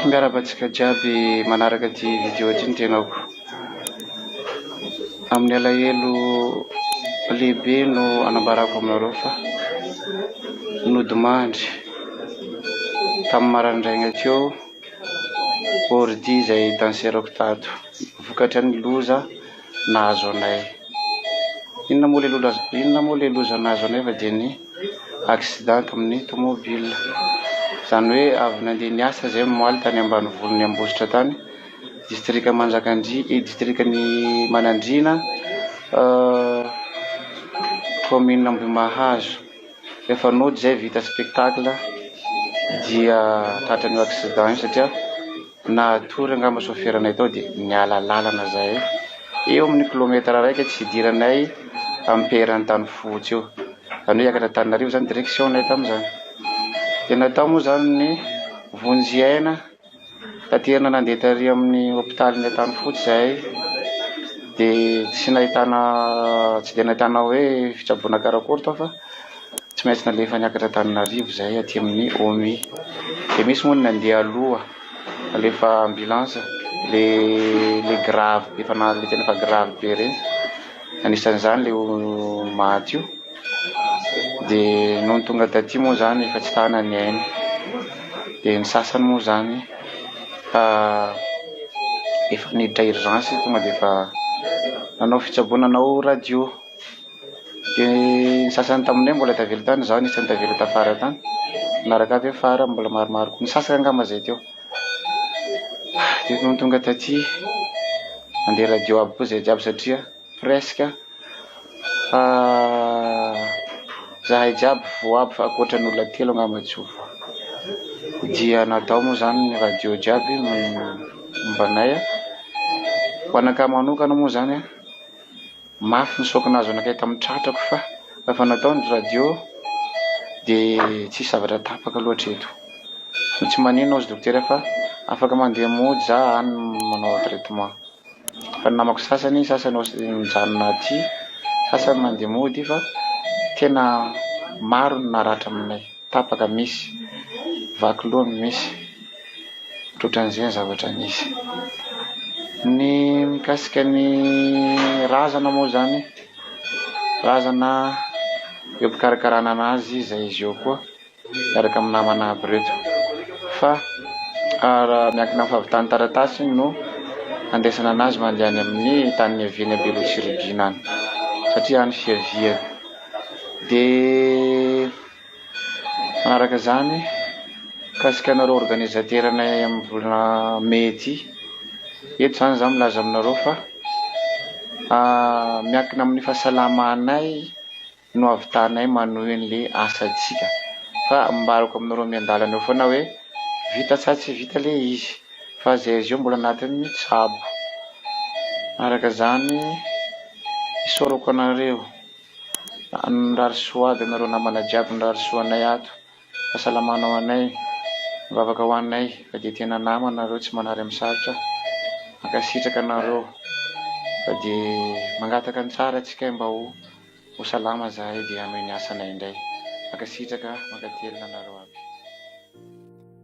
Miarahaba antsika jiaby manaraka ity video ity ny tenako. Amin'ny alahelo lehibe no anambarako aminareo fa nodimandry tamin'ny maraindraigna teo ordi izay danserako tato vokatry ny loza nahazo anay. Inona moa ilay loza nahazo anay fa dia ny. accident amin'ny tomobile izany hoe avy nandeha niasa izay omaly tany ambanivolon'i Ambositra tany, distrika Manjakandria eh distrikan'i Manandriana commune Ambohimahazo, rehefa nody izay vita spectacle dia tratran'io accident io satria. Natory angamba soferanay tao dia niala lalana zahay eo amin'ny kilometatra iraika tsy hidiranay ampera Antanifotsy eo, zany hoe hiakatra Antananarivo zany direction nay tamin'izany, dia natao moa zany ny vonjy aina taterina nandeha tary amin'ny hopitalin'ny Antanifotsy zahay dia tsy nahitana tsy dia nahitana hoe fitsaboana karakory tao fa. Tsy maintsy nalefa niakatra Antananarivo izahay aty amin'ny OMI. Dia misy moa ny nandeha aloha, nalefa ambulance, ilay grave be, efa na- ilay tena efa grave be ireny, anisan'izany ilay maty io. Dia nony tonga taty moa izany efa tsy tana ny ainy. Dia ny sasany moa izany efa niditra urgence tonga dia efa nanao fitsaboana nanao radio. Dia ny sasany taminay mbola tavela tany, izaho anisan'ny tavela tafara tany, manaraka avy eo fara mbola maromaro koa, ny sasany angamba izay teo. Dia nony tonga taty, nandeha radio aby koa izay jiaby satria presque fa izahay jiaby voa aby fa ankoatra ny olona telo angamba tsy ho voa. Dia natao moa izany ny radio jiaby momba anay, ho anakahy manokana moa izany. Mafy ny choc nahazo anakay tamin'ny tratrako fa efa natao ny radio dia tsisy zavatra tapaka loatra eto. Ny tsy manino hozy dokotera fa afaka mandeha mody za any manao traitement. Fa ny namako sasany sasany hozy mijanona aty sasany mandeha mody fa tena maro ny naratra aminay. Tapaka misy, vaky loha misy. Ohatran'izay ny zavatra nisy. Ny mikasika ny razana moa izany, razana eo am-pikarakarana an'azy izay izy eo koa miaraka amin'ny namana aby ireto fa raha miankina amin'ny fahavitan'ny taratasy no andraisana an'azy mandeha any amin'ny tany niaviany à Belo sy Regina any satria any fiaviany dia Manaraka izany, mikasika anareo organisateranay amin'ny volana mey ity, eto izany izaho milaza aminareo fa miankina amin'ny fahasalamanay no ahavitanay manohy an'ilay asantsika fa ambarako aminareo miandalana eo foana hoe vita sa tsy vita ilay izy fa izay azy eo mbola anatin'ny tsabo. Araka izany isaorako anareo. Mirary soa aby anareo namana jiaby mirary soa anay ato fasalamana ho anay mivavaka ho anay fa dia tena nama nareo tsy manary am sarotra mankasitraka anareo fa dia mangataka ny tsara tsika mba ho ho salama zahay dia hanohy ny asanay indray mankasitraka mankatelina anareo aby.